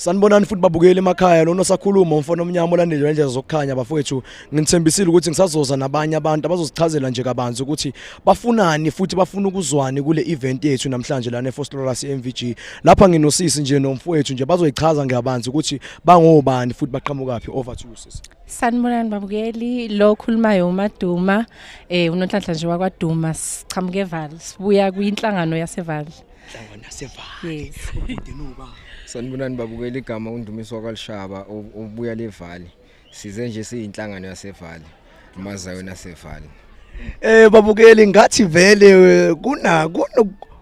Sanibonani futhi babukeli emakhaya lona sakhuluma umfana omnyama olandile nje zokukhanya bafowethu ngithembisile ukuthi ngisazoza nabanye abantu abazosichazela nje kabanzi ukuthi bafunani futhi bafuna ukuzwani kule event yethu namhlanje lana eFostoras MVG lapha nginosisi nje nomfowethu nje bazoyichaza ngeyabanzi ukuthi bangobani futhi baqhamukaphi over to you sisi Sanibonani babukeli lo okhulumayo uMaduma eh unonhlanhla nje wakwaDuma sichamuke eVal sibuya kwinhlangano yaseVal Hlangana sevale. Yes. Ubude noba. Sanibonani babukela igama undumiso wakalishaba ubuya levali. Size nje siyinhlangano yasevali. Mazayo nasevali. Eh babukeli ngathi vele eh, kuna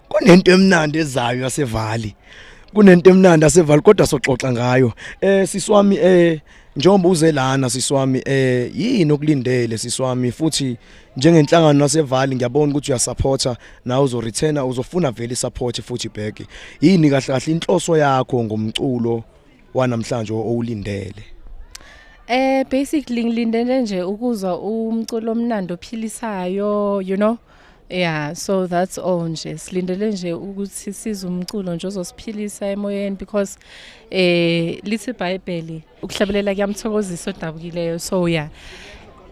kunento emnandi ezayo yasevali. Kunento emnandi yasevali kodwa soxoxa ngayo. Eh siswami eh njengoba uze lana siswami eh yini okulindele siswami futhi njengenhlangano nasevali ngiyabona ukuthi uyasupporta nawe uzoreturna uzofuna vele isupport futhi back yini kahle kahle inhloso yakho ngomculo wanamhlanje owulindele eh basically ngilindele nje ukuzwa umculo omnandi ophilisayo you know Yeah, so that's all nje. Silindele nje ukuthi size umculo nje ozosiphilisa emoyeni because eh lithi iBhayibheli ukuhlabelela kuyamthokozisa odabukileyo so ya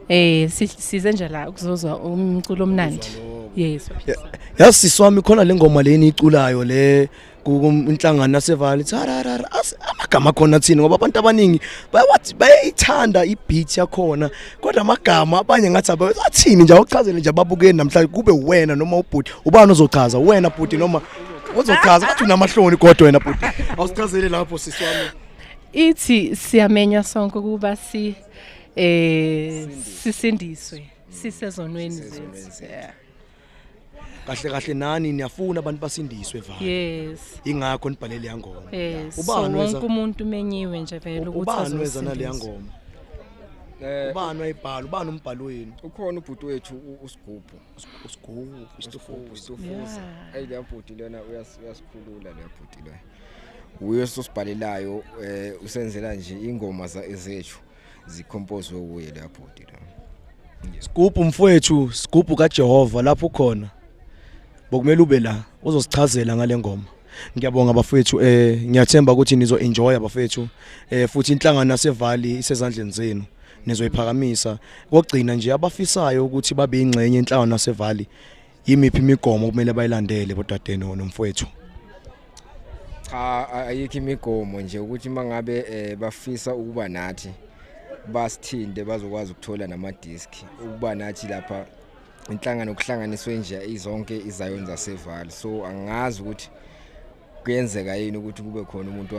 eh size nje la ukuzozwa umculo omnandi yes yazi sisi wami khona le ngoma leni iculayo le kunhlangano yasevale thararara amagama khona thina ngoba abantu abaningi bayawathi bayayithanda ibeat yakhona kodwa amagama abanye ngathi abathini nje awuchazele nje ababukeni namhlanje kube wena noma ubhuti ubani ozochaza wena bhuti noma uzochaza bathi unamahloni kodwa wena bhuti awusichazele lapho sisi wami ithi siyamenywa sonke ukuba si eh sisindiswe sisezonweni zethu kahle kahle nani niyafuna abantu basindiswe vale yes ingakho nibhalele yangoma yes ubani wonke umuntu umenyiwe nje vele ukuthi ubani weza nale yangoma eh ubani wayibhala ubani umbhali wenu ukhona ubhuti wethu usigubhu usigubhu istofufu istofuza ayile bhuti lona uyasikhulula le bhuti lona uye sosibhalelayo eh usenzela nje ingoma zethu zikhompozwe uye la bhuti la Sigubhu mfowethu sigubhu kaJehova lapho khona bokumele ube la uzosichazela ngalengoma ngiyabonga bafethu eh ngiyathemba ukuthi nizo enjoy bafethu eh futhi inhlangano yasevali isezandleni zenu nizoyiphakamisa kokugcina nje abafisayo ukuthi babe ingxenye enhlangano yasevali yimiphi imigomo kumele bayilandele bodade nomfowethu cha ayikho imigomo nje ukuthi mangabe eh, bafisa ukuba nathi basithinde bazokwazi ukuthola nama disk ukuba nathi lapha inhlangano kuhlanganiswe nje izonke izayoni zaseval so angazi ukuthi kuyenzeka yini ukuthi kube khona umuntu